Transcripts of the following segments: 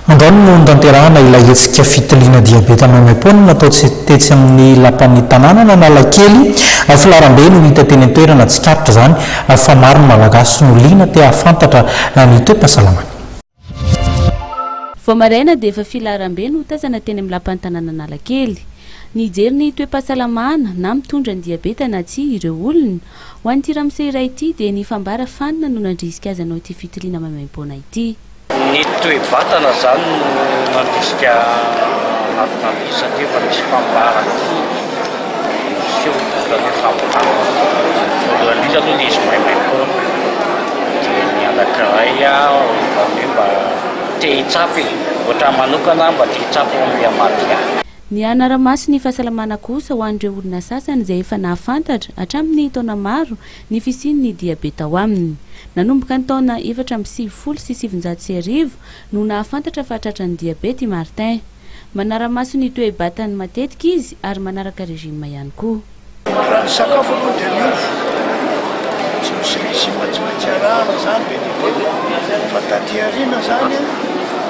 Andao no notanterahana ilay hetsika fitiliana diabeta maimaimpoana natao tetsy amin'ny lapan'ny tanànan' Analakely. Filaharambe no hita teny an-toerana, tsikaritra izany fa maro ny Malagasy no liana te hahafantatra ny toe-pahasalamany. Vao maraina dia efa filaharambe no tazana teny amin'ny lapan'ny tanànan' Analakely. Nijery ny toe-pahasalamana, na mitondra ny diabeta na tsia, ireo olona. Ho an'ity ramose iray ity dia ny fambara fanina no nandrisika azy hanao ity fitiliana maimaimpoana ity. Ny toe-batana izany no mandrisika mahatonga azy satria efa misy fambarana foana miseho izany hoe fampiharana voalohany indrindra aloha ilay izy maimaim-poana dia ny anankiray ohatran'ny hoe mba te hitsapa e! ohatra ahy manokana aho mba te hitsapa ao amin'ny Amadia. Ny hanara-maso ny fahasalamana kosa ho an'ireo olona sasany izay efa nahafantatra hatramin'ny taona maro ny fisian'ny diabeta ao aminy. Nanomboka ny taona efatra amby sivifolo sy sivinjato sy arivo no nahafantatra fa tratran'ny diabeta i Martin. Manara-maso ny toe-batany matetika izy ary manaraka régime ihany koa. Raha ny sakafo aloha dia miova, tsy misy régime tsy maintsy arahana izany be dia be fa taty aoriana izany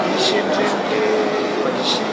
nisy an'ireny le nisy.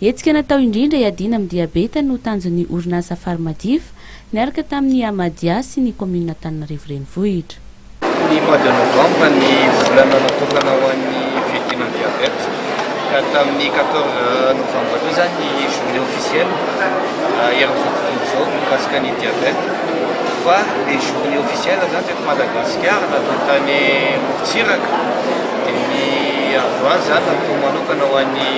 Hetsika natao indrindra hiadiana amin'ny diabeta no tanjon'ny orinasa Pharmadiva, niaraka tamin'ny Amadia sy ny kaominina Antananarivo Renivohitra. Ny mois de novembre ny volana natokana ho an'ny fiadiana ny diabeta ka tamin'ny quatorze novembre koa izany ny journée officielle eran'izao tontolo izao mikasika ny diabeta fa le journée officielle izany teto Madagasikara natao tany Morontsiraka dia ny androany izany natao manokana ho an'ny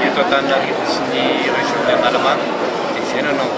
eto Antananarivo sy ny région-n'ny Analamanga dia izay no nanao